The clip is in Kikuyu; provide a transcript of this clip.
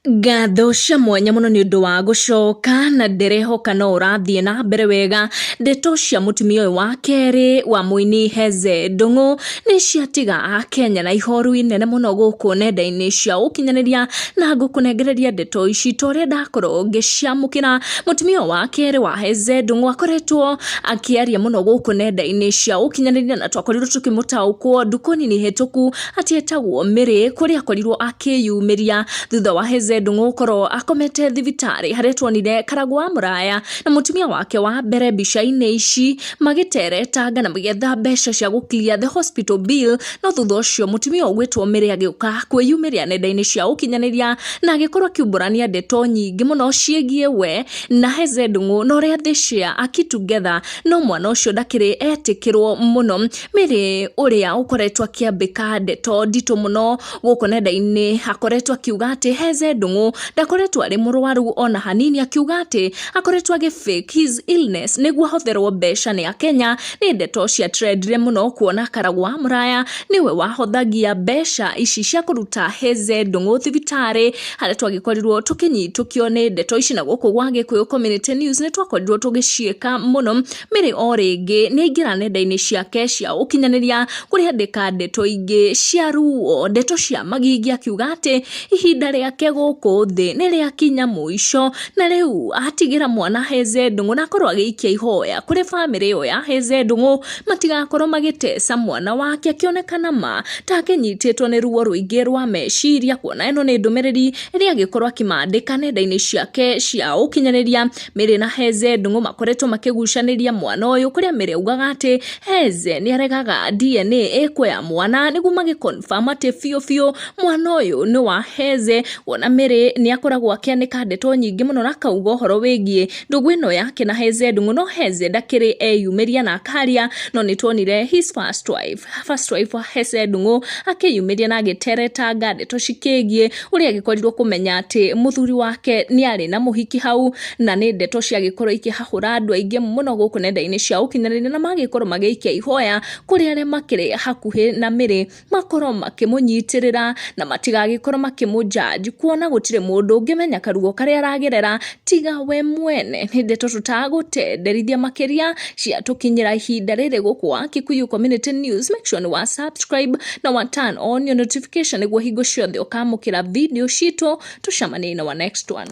Ngatho cia mwanya mũno nĩ ũndũ wa gũcoka na ndĩrehoka no ũrathiĩ na mbere wega. Ndeto cia mũtumia ũyũ wa kerĩ wa mũini Heze Ndung'u nĩ ciatiga akenya na ihoru inene mũno gũkũ nenda-inĩ cia ũkinyanĩria, na ngũkũnengereria ndeto ici ta ũrĩa ndakorwo ngĩciamũkĩra. Mũtumia ũyũ wa kerĩ wa Heze Ndung'u akoretwo akĩaria mũno gũkũ nenda-inĩ cia ũkinyanĩria na twakorirwo tũkĩmũtaũkwo ndukũ nini hĩtũku. atĩ etagwo Mĩrĩ kũrĩa akorirwo akĩyumĩria thutha wa Heze Ndung'u gũkorwo akomete thibitarĩ harĩa tuonire karagũ wa mũraya na mũtumia wake wa mbere mbica-inĩ ici magĩteretanga na magĩetha mbeca cia gũkiria the hospital bill no thutha ũcio mũtumia ũgwĩtwo Mĩrĩ agĩũka kwĩyumĩria nenda-inĩ cia ũkinyanĩria na agĩkorwo akĩumbũrania ndeto nyingĩ mũno ciĩgiĩ we na Heze Ndung'u na ũrĩa they share a key together no mwana ũcio ndakĩrĩ etĩkĩrwo mũno Mary ũrĩa ũkoretwo akĩambĩka ndeto nditũ mũno gũkũ nenda-inĩ akoretwo akiuga atĩ Heze Ndung'u ndakoretwo arĩ mũrwaru ona hanini akiuga atĩ akoretwo agĩ fake his illness nĩguo ahotherwo mbeca nĩ Akenya nĩ ndeto cia trendire mũno kuona Karagwa Mũraya nĩwe wahothagia mbeca ici cia kũruta Heze Ndung'u thibitarĩ harĩa twagĩkorirwo tũkĩnyitũkio nĩ ndeto ici na gũkũ gwa Gĩkũyũ Community News nĩ twakorirwo tũgĩciĩka mũno Mary o rĩngĩ nĩ aingĩra nenda-inĩ ciake cia ũkinyanĩria kũrĩa andĩka ndeto ingĩ cia ruo, ndeto cia magigi akiuga atĩ ihinda rĩake gũkũ thĩ nĩ rĩakinya mũico, na rĩu atigĩra mwana ahĩnze ndũng'ũ na akorwo agĩikia ihoya kũrĩ bamĩrĩ ĩyo ya ahĩnze ndũng'ũ matigakorwo magĩteca mwana wake akĩoneka na ma ta akĩnyitĩtwo nĩ ruo rũingĩ rwa meciria, kuona ĩno nĩ ndũmĩrĩri ĩrĩa agĩkorwo akĩmandĩka nenda-inĩ ciake cia ũkinyanĩria. Mary na Heze Ndung'u makoretwo makĩgucanĩria mwana ũyũ kũrĩa Mary augaga atĩ Heze nĩ aregaga DNA ĩkwo ya mwana nĩguo magĩconfirm atĩ biũ biũ mwana ũyũ nĩ wa Heze kuona Mary nĩ akoragwo akĩanĩka ndeto nyingĩ mũno na akauga ũhoro wĩgiĩ ndũgũ ĩno yake na Heze Ndung'u no Heze ndakĩrĩ eyumĩria na akaria no nĩ tuonire his first wife first wife wa Heze Ndung'u akĩyumĩria na agĩteretanga ndeto cikĩgiĩ ũrĩa agĩkorirwo kũmenya atĩ mũthuri wake nĩ arĩ na mũhiki hau na nĩ ndeto ciagĩkorwo ikĩhahũra andũ aingĩ mũno gũkũ nenda-inĩ cia ũkinyanĩria na magĩkorwo magĩikia ihoya kũrĩ arĩa makĩrĩ hakuhĩ na mĩrĩ makorwo makĩmũnyitĩrĩra na matigagĩkorwo makĩmũjaji kuona gũtirĩ mũndũ ũngĩmenya karuo karĩa aragerera tiga we mwene nĩ ndeto tũtagũtenderithia makĩria cia tũkinyĩra ihinda rĩrĩ gũkũ wa Kikuyu Community News make sure nĩ wa subscribe na wa turn on your notification nĩguo hingo ciothe ũkamũkĩra video citũ tũcemanie na wa next one